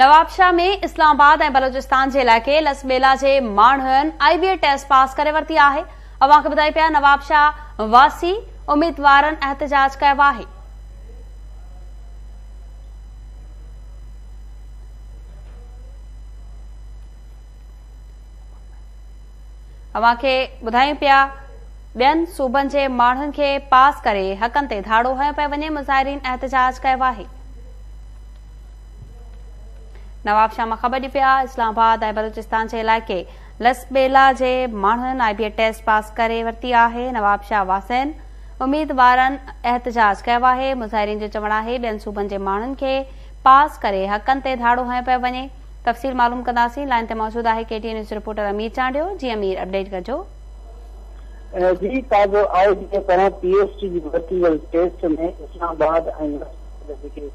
Nawabshah ۾ Islamabad ۽ Balochistan جي علائقي Lasbela جي ماڻهن I B A test pass ڪري ورتي آهي اوهان کي ٻڌايون پيا نوابشاهه واسي اميدوارن احتجاج ڪيو آهي. اوهان کي ٻڌايون پيا ٻين صوبن جي ماڻهن کي پاس ڪري حقن تي ڌاڙو هنيو پيو وڃي مظاهرين احتجاج ڪيو آهي. نواب شاهه مان خبر ڏي پيا اسلام آباد ۽ بلوچستان جي علائقي لس ٻيلا جي ماڻهن آء بي ٽيسٽ پاس ڪري ورتي آهي نواب شاهه واسين اميدوارن احتجاج ڪيو آهي مظاهرين جو چوڻ آهي ٻين صوبن جي ماڻهن کي پاس ڪري حقن تي ڌاڙو هنيو پيو وڃي تفصيل معلوم ڪنداسين لائن تي موجود آهي K T N news reporter Amir Chandio جي امير اپڊيٽ ڪجو جي تازو آء بي ٽي پاران پي ايس ٽي جي ورتي وئي ٽيسٽ ۾ اسلام آباد ۽ لس ٻيلا جيڪي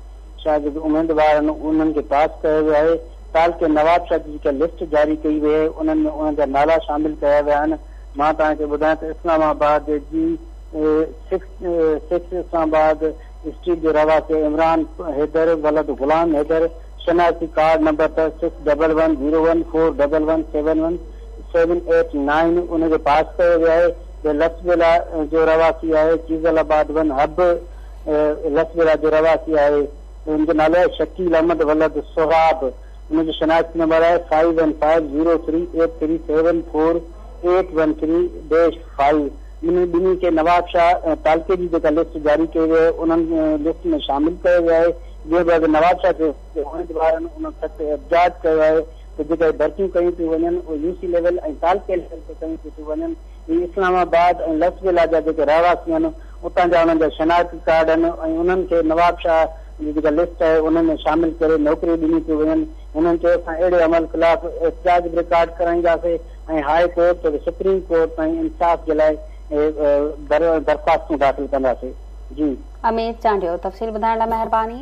شايد جيڪي اميدوار آهن انهن کي پاس ڪيو ويو آهي، تعلقي نوابشاهه جي جيڪا لسٽ جاري ڪئي وئي آهي انهن ۾ انهن جا نالا شامل ڪيا ويا آهن، مان توهان کي ٻڌايان ته اسلام آباد جي six six Islamabad street جو رهواسي عمران حيدر ولد غلام حيدر شناختي ڪارڊ نمبر اٿس six double one zero one four double one seven one seven eight nine ان کي پاس ڪيو ويو آهي به لسٽ ضلع جو رهواسي آهي چيزل آباد ون حب لسٻيرا جو رهواسي آهي. هن جو نالو آهي شڪيل احمد ولد سهراب. هن جو شناختي نمبر آهي five one five zero three eight three seven four eight one three dash five. انهن ٻنهي کي نوابشاهه تعلقي جي جيڪا لسٽ جاري ڪئي وئي آهي انهن لسٽ ۾ شامل ڪيو ويو آهي جنهن بعد اڳي نوابشاهه کي اميدوارن انهن سخت احتجاج ڪيو آهي ته جيڪا هي ڀرتيون ڪيون ٿيون وڃن اهي يو سي ليول ۽ تعلقي ليول تي ڪيون ٿيون ٿيون وڃن. هي اسلام آباد ۽ لس ويلا جا جيڪي رهواسي آهن اتان جا انهن جا شناختي ڪارڊ آهن ۽ انهن کي نوابشاهه جي جيڪا لسٽ آهي ان ۾ شامل ڪري نوڪريون ڏنيون پيون وڃن هنن چيو اسان اهڙي عمل خلاف احتجاج به رڪارڊ ڪرائينداسين ۽ هاء ڪورٽ توڙي سپريم ڪورٽ تائين انصاف جي لاء درخواستون داخل ڪنداسين جي. اميد چانڊيو تفصيل ٻڌائڻ لاء مهرباني.